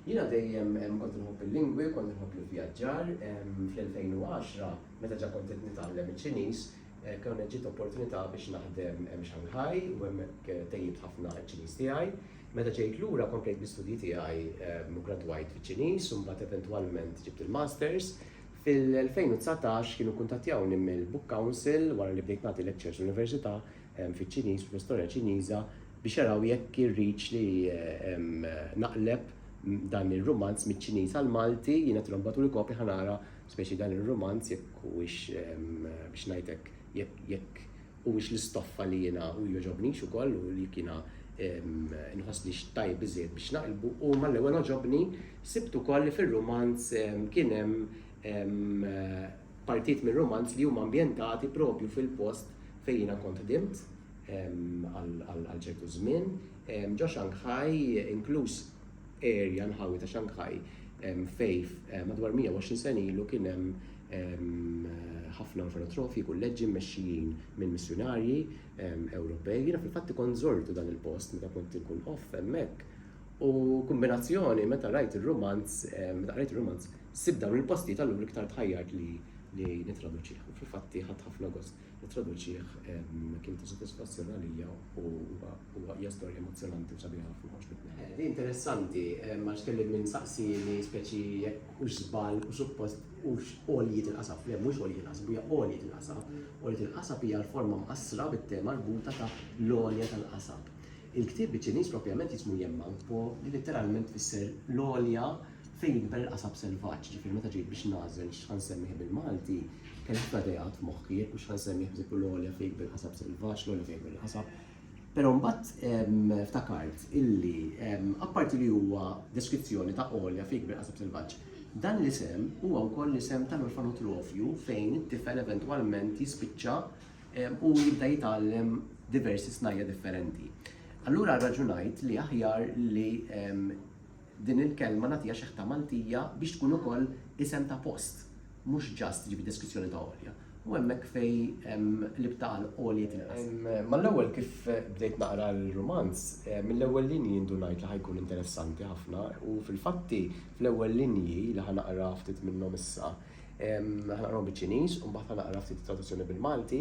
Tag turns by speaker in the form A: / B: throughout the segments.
A: Jiena dejjem kont inħobb il-lingwi, kont inħobb l-ivvjaġġar. Fl-2010, meta ġa kont qed nitgħallem iċ-Ċiniż, kienet ġiet opportunità biex naħdem Shanghai u hemmhekk tejjibt ħafna ċ-Ċiniż tiegħi. Meta ġejt lura, komplejt bl-istudji tiegħi u ggradwajt fiċ-Ċiniż u mbagħad eventwalment ġibt il-Masters. Fil-2019 kienu kkuntattjawni mill-Book Council wara li bdejt nagħti lectures l-Università hemm fiċ-Ċiniż, fl-istorja Ċiniża, biex jaraw jekk irridx li naqleb dan ir-rumanz miċ-Ċiniż għall-Malti, jiena tilhom bagħtuli kopja ħa nara speċi dan ir-rumanz jekk huwiex biex ngħid hekk jekk huwiex l-istoffa li jiena u jogħġobnix ukoll u jekk jiena nħossnix tajjeb biżżejjed biex naqlbu u mal-ewwel għoġobni sibt ukoll li fir-rumanz kien hemm Partijiet mir-rumanz li huma ambjentati propju fil-post fejn jiena kont ħdimt għal ċertu żmien ġo Shanghai, inkluż area, nħawi ta' Shanghai, fejn madwar 120 sena ilu kien hemm ħafna orfanotrofi, kulleġġi mmexxijin minn missjunarji Ewropej. Jiena fil-fatt ikont żortu dan il-post meta kont inkun off hemmhekk u kombinazzjoni meta rajt ir-rumanz, meta qrajt ir-rumanz, Sibt dawn il-postijiet allura iktar tħajjart li nittraduċih. U fil-fatti ħadt ħafna gost nittraduċih kien ta' sodisfazzjon għalija u huwa hija storja emozzjonanti u sabiħa ħafna għaġbitni. Eh, interessanti, eh, ma kelli minn saqsini speċi jekk hux żball u suppost hux għoljiet il-qasab, le mhux għoljiet il-qasab, hija għoljiet il-qasab. Għoljiet il-qasab hija l-forma mqassra bit-tema l-buta ta' l-għolja tal-qasab. Il-ktieb biċ-Ċiniż propjament jismu jemma, li letteralment fisser l-għolja Fejn jikber il-qasab selvaġġ, ġifieri meta ġejt biex nagħżel x'ħa nsemmih bil-Malti, kelli ħafna ideat f'moħħi, jekk hux ħa nsemmih b'dieku l-għolja fejn jikber il-qasab selvaġġ, l-għolja fejn jikber il-qasab. Però mbagħad ftakart illi apparti li huwa deskrizzjoni ta' għolja fejn jikber qasab selvaġġ, dan l-isem huwa wkoll l-isem tal-orfanotrofju fejn it-tifel eventwalment jispiċċa u jibda jitgħallem diversi snajja' differenti. Allura rraġunajt li aħjar li Din il-kelma nagħtiha xi ħta Maltija biex tkun ukoll isem ta' post, mhux ġast tiġi bid-deskrizzjoni ta' Għolja. U hemmhekk fej l-ibta għal Għoljet inqas. Mal-ewwel kif bdejt naqra l-rumanz, mill-ewwel linji ndunajt li ħa jkun interessanti ħafna u fil-fatti fl-ewwel linji li ħa naqra ftit minnhom issa, ħa naqrahom biċ-Ċiniż u mbagħad ħa naqra ftit it-traduzzjoni bil-Malti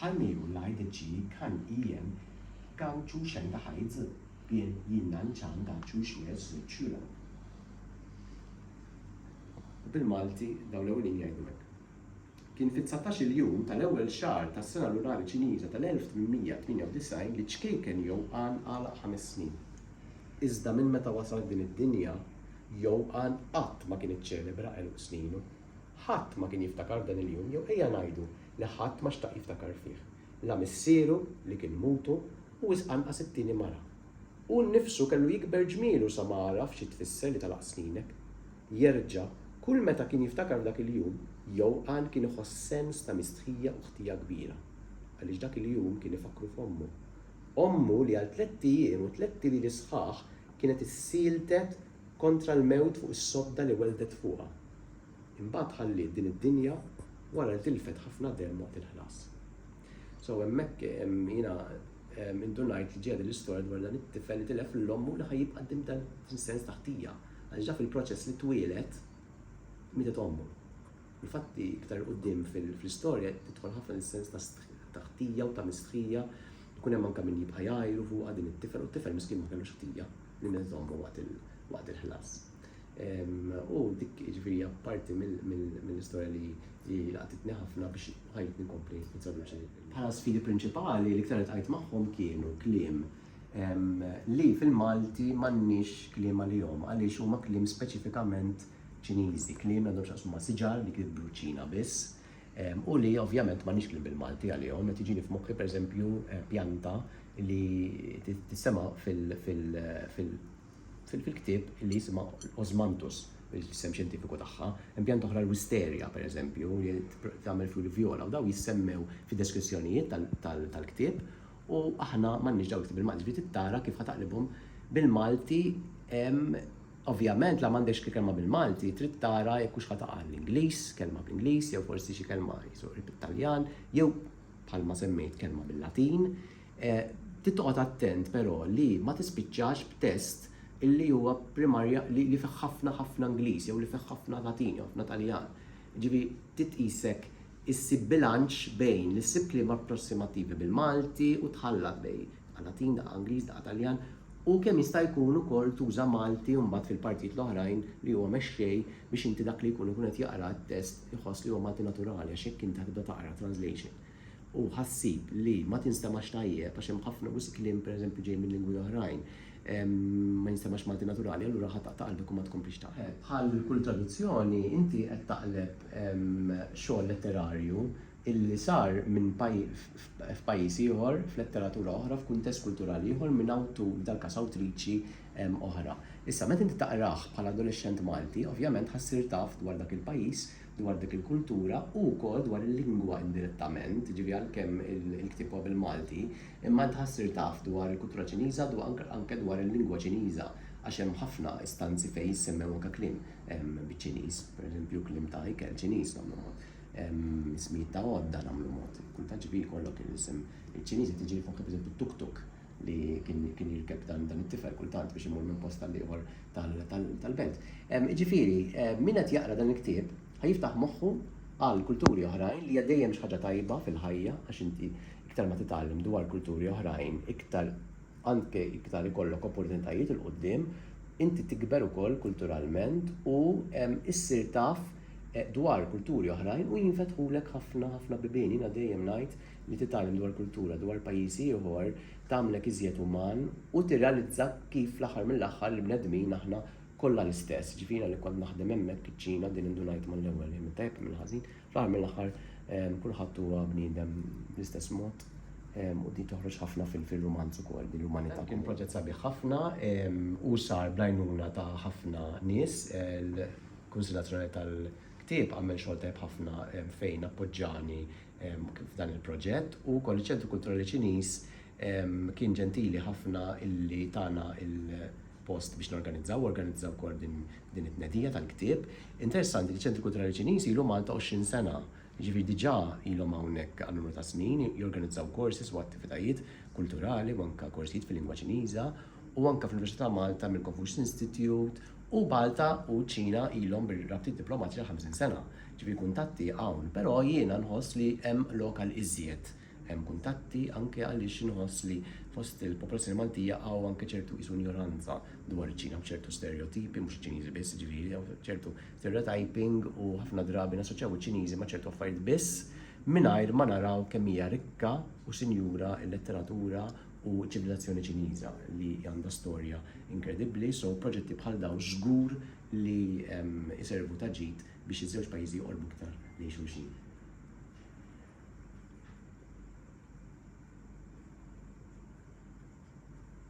A: Ħalli u lajd ġi kan ijien gan ċu xen da ħajd z bien jinnan ċan da ċu xwez z ċula. Bil Malti dawn l-ewwelin jgħidu hekk. Kien fit-dsatax-il jum tal-ewwel xahar tas-sena lunari Ċiniża tal-1898 li ċkejken jew għan għalaq ħames snin. Iżda minn meta wasal f'din id-dinja, jew għan qatt ma kien iċċelebra għeluq sninu. Ħadd ma kien jiftakar f'dan il-jum jew ejja ngħidu li ħadd ma xtaq jiftakar fih, la missieru li kien mutu u wisq anqas it-tieni mara. Hu nnifsu kellu jikber ġmielu sa ma għaraf xi tfisser li tagħlaq sninek. Jerġa', kull meta kien jiftakar f'dak il-jum, Jouqan kien iħoss sens ta' mistħija u ħtija kbira. Għaliex dak il-jum kien ifakkru f'ommu. Ommu li għal tlett ijiem u tlett lili sħaħ kienet issieltet kontra l-mewt fuq is-sodda li welldet fuqha. Imbagħad ħalliet din id-dinja wara li tilfet ħafna demm waqt il-ħlas. So hemmhekk jiena indunajt li ġejja l-istorja dwar dan it-tifel li tilef lil ommu li ħajibqa' dim dan sens ta' ħtija għax ġaf il-proċess li twieled mietet ommu. Infatti, iktar qudiem fl-istorja tidħol ħafna l-sens ta' ħtija u ta' misħija jkun hemm anke min jibqa' jgħajru fuqha din it-tifel u t-tifel miskin ma kellux ħtija li mietet ommu waqt il-ħlas. U dik ġifiri parti mill-istorja li laqtitni ħafna biex ħajt nikompli nitraduċi. Bħala sfidi prinċipali li ktar tqajt magħhom kienu kliem li fil-Malti m'għandniex kliem għalihom għaliex huma kliem speċifikament Ċiniżi, kliem għandhom x'aqsmu ma' siġar li kif bruċina biss. U li ovvjament m'għandniex kliem bil-Malti għalihom, qed jiġini f'moħħi pereżempju pjanta li tissema' fil- fil-ktieb li jisimha l-Osmanthus, l-isem xjentifiku tagħha, hemm pjanta oħra l-Wisteria, pereżempju, li tagħmel fjuri vjola u dawn jissemmew fid-deskrizzjonijiet tal-ktieb u aħna m'għandniex dawn il-ktieb bil-Malti, ġifieri trid tara kif ħa taqlibhom bil-Malti, ovvjament la m'għandekx kelma bil-Malti, trid tara jekk hux ħa taqa' l-Ingliż, kelma bl-Ingliż jew forsi xi kelma jisu qrib it-Taljan jew bħalma semmejt kelma bil-Latin. Trid toqgħod attent però li ma tispiċċax b'test li huwa primarja li li fih ħafna ħafna Ingliż jew li fih ħafna Latin jew ħafna Taljan. Jiġifieri trid tqisek issib bilanċ bejn li ssib kliem approssimativi bil-Malti u tħallat bejn daqqa Latin, daqqa Ingliż, daqqa Taljan u kemm jista' jkun ukoll tuża Malti mbagħad fil-partijiet l-oħrajn li huwa mexxej biex inti dak li jkun ikun qed jaqra t-test iħoss li huwa Malti naturali għax hekk inti ħa tibda taqra translation. u ħassib li ma tinstemax tajjeb għax hemm ħafna wisq kliem pereżempju ġej minn lingwi oħrajn ma jinstemax Malti naturali allura ħa taqta' qalbek u ma tkomplix taqra. Bħal kull traduzzjoni inti qed taqleb xogħol letterarju illi sar minn f'pajjiż ieħor, f'letteratura oħra, f'kuntest kulturali ieħor minn awtur, f'dal-każ awtriċi, oħra. Issa meta inti taqrah bħala adolexxent Malti ovvjament ħa ssir taf dwar dak il-pajjiż dwar dik il-kultura u wkoll dwar il-lingwa indirettament, ġifieri għalkemm il-ktieb huwa bil-Malti, imma int ħa ssir taf dwar il-kultura Ċiniża, anke dwar il-lingwa Ċiniża, għax hemm ħafna istanzi fejn jissemmew anke kliem biċ-Ċiniż, pereżempju kliem ta' ikel Ċiniż nagħmlu mod, ismijiet ta' għodda nagħmlu mod, kultant ġifieri jkollok l-isem il-Ċiniż qed jiġi anke pereżempju tuk-tuk. li kien jirkeb dan it-tifel kultant biex imur minn post tal-ieħor tal-belt. Ġifieri, min qed jaqra dan il-ktieb ħajiftaħ moħħu għal kulturi oħrajn li għaddejjem xi ħaġa tajba fil-ħajja għax inti iktar ma titgħallem dwar kulturi oħrajn, iktar anke iktar ikollok opportunitajiet il qudiem inti tikber ukoll kulturalment u issir taf eh, dwar kulturi oħrajn u jinfetħulek ħafna ħafna bibien. Jiena dejjem ngħid Li titgħallem dwar kultura, dwar pajjiż ieħor, tagħmlek iżjed uman u tirrealizza kif fl-aħħar mill-aħħar il-bnedmin aħna kollha l-istess. Ġifieri jiena li kont naħdem hemmhekk iċ-Ċina din indunajt mal-ewwel, imma tajjeb kemm il-ħażin, fl-aħħar mill-aħħar kulħadd huwa bniedem bl-istess mod u din toħroġ ħafna fil-rumanz ukoll, din l-umanità. Kien proġett sabiħ ħafna u sar bl-għajnuna ta' ħafna nies. Il-Kunsill Nazzjonali tal-Ktieb għamel xogħol tajjeb ħafna fejn appoġġani kif dan il-proġett u wkoll iċ-Ċentru Kulturali Ċiniż kien ġentili ħafna illi tana il-post biex norganizzaw, organizzaw ukoll din it-tnedija tal-ktieb. Interessanti li ċ-Ċentru Kulturali Ċiniż ilu Malta 20 sena, ġifieri diġà ilhom hawnhekk għal numru ta' snin, jorganizzaw korsis u attivitajiet kulturali u anke korsijiet fil-lingwa Ċiniża u anke fl-Università ta' Malta mill-Confucius Institute, u Malta u ċ-Ċina ilhom bir-rabtiet diplomatiċi għal 50 sena, ġifieri kuntatti hawn, però jiena nħoss li hemm lok għal iżjed. Hemm kuntatti anke għaliex inħoss li fost il-popolazzjoni Maltija hawn anke ċertu qisu injoranza dwar iċ-Ċina b'ċertu stereotipi, mhux iċ-Ċiniżi biss, ġifieri hawn ċertu stereotyping u ħafna drabi nassoċjaw iċ-Ċiniżi ma' ċertu affarijiet biss mingħajr ma naraw kemm hija rikka u sinjura l-letteratura u ċ-ċivilizzazzjoni Ċiniża li għandha storja inkredibbli, so proġetti bħal dawn żgur li jservu ta' ġid biex iż-żewġ pajjiżi joqorbu iktar lejn xulxin.